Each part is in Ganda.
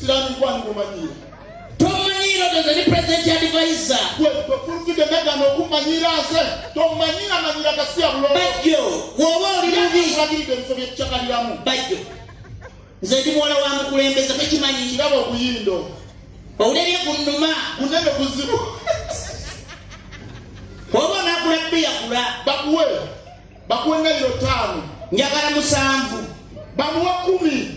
Sirani kwani kumanyira. Tomanyira doze ni president ya advisor. Gwe tofurufike mega no kumanyira ase. Tomanyira manyira kasi ya bulo. Bajjo. Wowo oli mubi. Kulagiri de msobi chakaliramu. Bajjo. Nze ndi muwala wa mukulembeze tekimanyi. Kirabo kuyindo. Owulebye ku nnuma. Kunene kuzibu. Wowo nakula bbiya kula. Bakuwe. Bakuwe nga yiro tano. Njagala musanvu. Bamuwa kumi.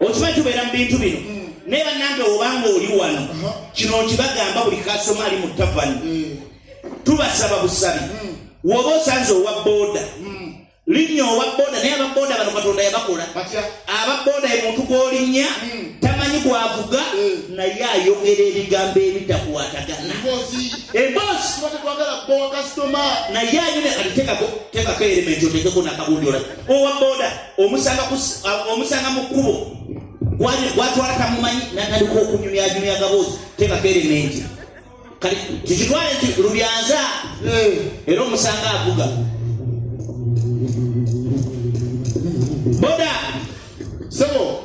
okimanyi tubeera mu bintu bino mm. naye banange obanga oli wano kino nkibagamba buli kasoma ali mu tavani mm. tubasaba busabi mm. woba osanze owa boda linnya owa boda naye ababoda bano katonda yabakola ababoda emuntu gwolinnya tamanyi gwavuga naye ayogera ebigambo ebitakwatagana emboozi naye ayine kalitekako tekako elementi otekeko nakabundi olaa owa boda omusanga omusanga mu kkubo gwatwala tamumanyi natandika okunyumyanyumya gaboozi tebaka erementi kati kikitwale nti lubyanza eh. era omusanga avuga boda sebo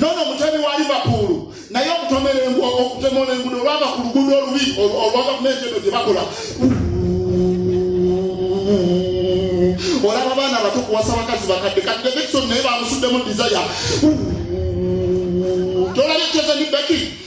nono mutemi wa liverpool naye okutomera okutemola engudo olwava ku lugudo olubi olwa gavumenti eno gyebakola olaba abaana abato kuwasa bakazi bakadde kadde vekison naye bamusuddemu desire tolabye kyezani beki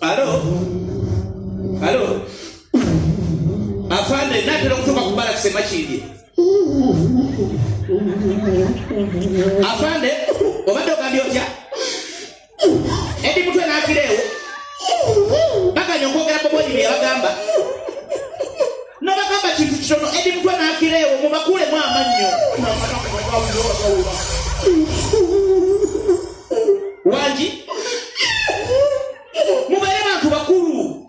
Alo. Alo. Afande natera okutoka ku bala kisema kindi. Afande obadde ogambye otya? Edi mutwe n'akireewo baganya okwogera ku bwenyi bye yabagamba n'abagamba kintu kitono edi mutwe n'akireewo mubakuulemu amannyo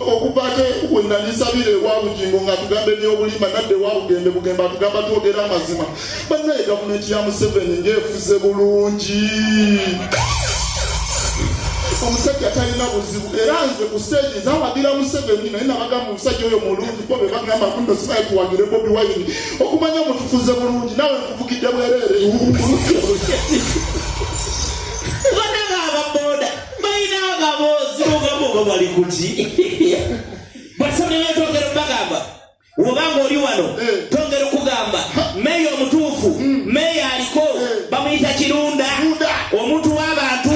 okuva ate we nalisabira ewa bugingo ng'atugamba ebyobulimba nadde ewa bugembe bugembe atugamba twogera amazima bannaye gavumenti ya museveni ng'efuze bulungi omusajja talina buzibu era nze ku stage zawagira museveni naye nabagamba omusajja oyo mulungi bo bebagamba kuno sibaye tuwagire bobi wayini okumanya mutufuze bulungi nawe nkuvugidde bwerere balina amaboozi ogamba oba bali kuti basabye netwogera bagamba obanga oli wano eh. tongera okugamba meeya omutuufu hmm. meeya aliko eh. bamuyita kirunda omuntu w'abantu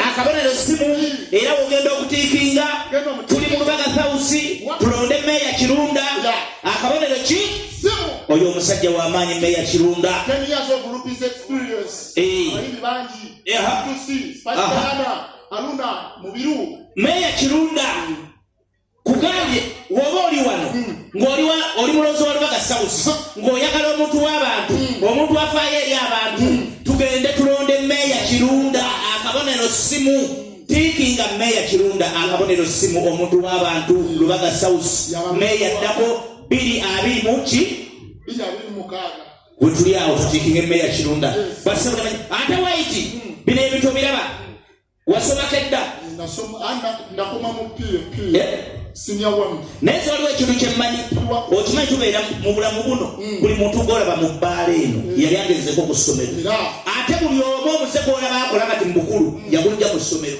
akabonero simu hmm. era wogenda okutiikinga tuli mu lubaga thawusi tulonde meeya kirunda akabonero ki oyo omusajja w'amaanyi meeya kirunda They have to see. Pastor uh-huh. Anna, Aluna, Mubiru. Meya Kirunda. Kugambye woba oli wano hmm. ng'oli oli mulozi wa Lubaga South ng'oyagala omuntu w'abantu hmm. omuntu afaayo eri abantu hmm. tugende tulonde meeya Kirunda akabonero simu tiikinga meeya Kirunda akabonero simu omuntu w'abantu Lubaga South meeya ddako biri abiri mu ki wetuli awo tutikinga emmeya kirunda basabulamanyi ate waiti bino ebintu obiraba wasomako edda nakoma mu ppp naye waliwo ekintu kyemmanyi okimanyi tubeera mu bulamu buno hmm. buli muntu gwolaba mu bbaala eno hmm. yali agenzeko ku ssomero ate buli omu omuze gwolaba akola kati mu bukulu hmm. yagunja mu ssomero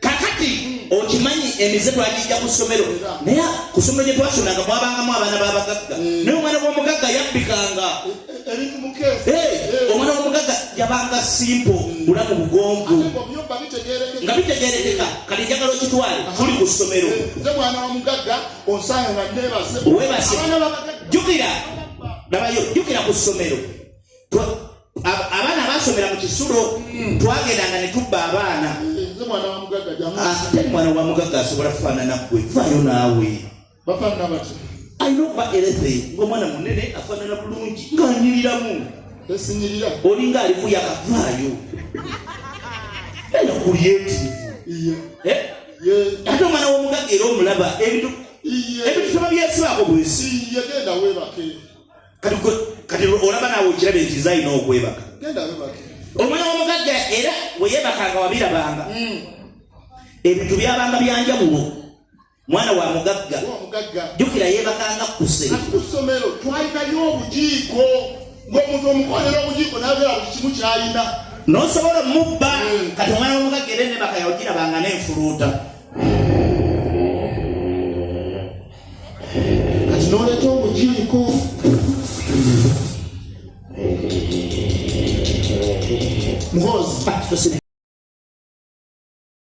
kakati okimanyi emize twagijja ku ssomero naye ku ssomero gye twasomanga mwabangamu abaana b'abagagga mm. naye omwana w'omugagga yabbikanga omwana w'omugagga yabanga simpo bula mu bugonvu nga bitegerekeka kati njagala okitwale tuli ku ssomero webase jukira dabayo jukira ku ssomero abaana basomera mu kisulo hmm. twagendanga ne tubba abaana eh, ate ah, mwana wa mugagga asobola kufaanana gwe vayo naawe alina okuba erethe ngaomwana munene afaanana bulungi ng'anyiriramu olinga alimu yakavaayo ena kulyetivu eh? ate omwana w'omugagga era omulaba ebintu ebintu soba byesibaako bwesi kati kati olaba naawe okiraba ekiza alina okwebaka omwana w'omugagga era weyebakanga wabirabanga hmm. ebintu byabanga byanjawulo mwana wa mugagga jukira yebakanga kuse kusomero twalikayo obujiiko ngaomuntu omukolera obujiiko nabeera buli kimu kyalina nosobola omubba hmm. kati omwana w'omugagga era enebaka yawugirabanga n'enfuluuta kati noleta omujiniko muhozi